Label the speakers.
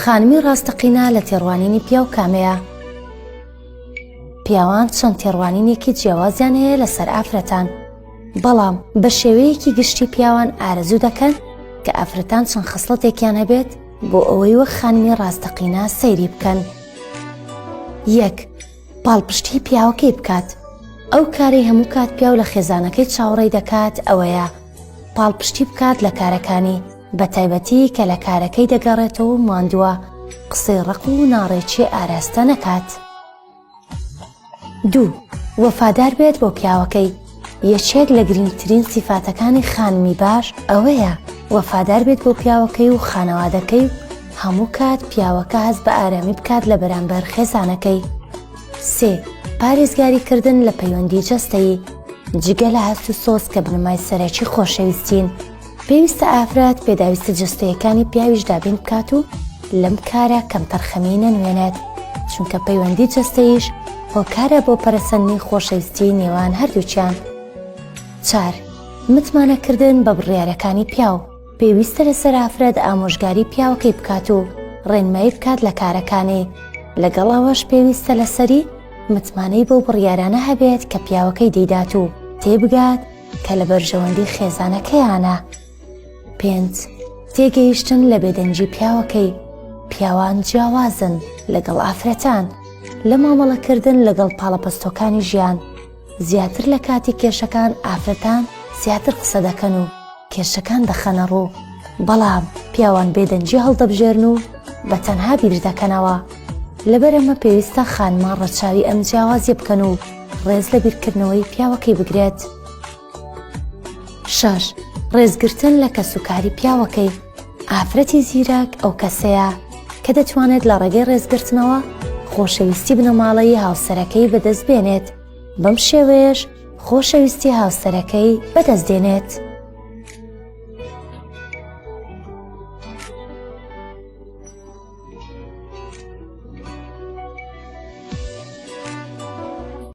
Speaker 1: خانمی ڕاستەقینە لە تێڕوانینی پیاو کامەیە؟ پیاوان چەند تێڕوانینێکی جیاوازیان هەیە لەسەر ئافرەتان بەڵام بە شێوەیەکی گشتی پیاوان ئارەزوو دەکەن کە ئافرەتان چەند خستڵەتێکیان هەبێت بۆ ئەوەی وەک خانمی ڕاستەقینە سەیری بکەن یەک پاڵپشتی پیاوەکەی بکات ئەو کارەی هەموو کات پیاو لە خێزانەکەی چاوەڕێی دەکات ئەوەیە پاڵپشتی بکات لە کارەکانی بە تایبەتی کە لە کارەکەی دەگەڕێتەوە و ماندووە قسەی ڕق و ناڕێکی ئاراستە نەکات دوو وەفادار بێت بۆ پیاوەکەی یەکێک لە گرنگترین سیفاتەکانی خانمی باش ئەوەیە وەفادار بێت بۆ پیاوەکەی و خانەوادەکەی و هەموو کات پیاوەکە هەست بە ئارامی بکات لە بەرامبەر خێزانەکەی سێ پارێزگاری کردن لە پەیوەندی جەستەیی جگە لە هەست و سۆز کە بنەمای سەرەکی خۆشەویستین پێویستە ئافرەت پێداویستە جەستەیەکانی پیاویش دابین بکات و لەم کارە کەمتەرخەمی نەنوێنێت چونکە پەیوەندی جەستەیش هۆکارە بۆ پەرسەندنی خۆشەویستی نێوان هەردووچیان چار متمانەکردن بە بڕیارەکانی پیاو پێویستە لە سەرافرەت ئامۆژگاری پیاوەکەی بکات و ڕێنمایی بکات لە کارەکانی لەگەڵ ئەوەش پێویستە لەسەری متمانەی بۆ بڕیارانە هەبێت کە پیاوەکەی دەیدات و تێبگات کە لە بەرژەوەندی خێزانەکەیانە پێنج تێگەیشتن لە بێدەنگی پیاوەکەی پیاوان جیاوازن لەگەڵ ئافرەتان لە مامەڵەکردن لەگەڵ پاڵەپەستۆکانی ژیان زیاتر لە کاتی کێشەکان ئافرەتان زیاتر قسە دەکەن و کێشەکان دەخەنە ڕوو بەڵام پیاوان بێدەنجی هەڵدەبژێرن و بە تەنها بیر دەکەنەوە لەبەرەمە پێویستە خانمان ڕەچاوی ئەم جیاوازی بکەن و ڕێز لە بیرکردنەوەی پیاوەکەی بگرێت. شەش، ڕێزگرتن لە کەسوکاری پیاوەکەی، ئافرەتی زیرەک ئەو کەسەیە کە دەتوانێت لە ڕێگەی ڕێزگرتنەوە خۆشەویستی بنەماڵەیی هاوسەرەکەی بەدەست بێنێت، بەم شێوەیەش خۆشەویستی هاوسەرەکەی بەدەست دێنێت.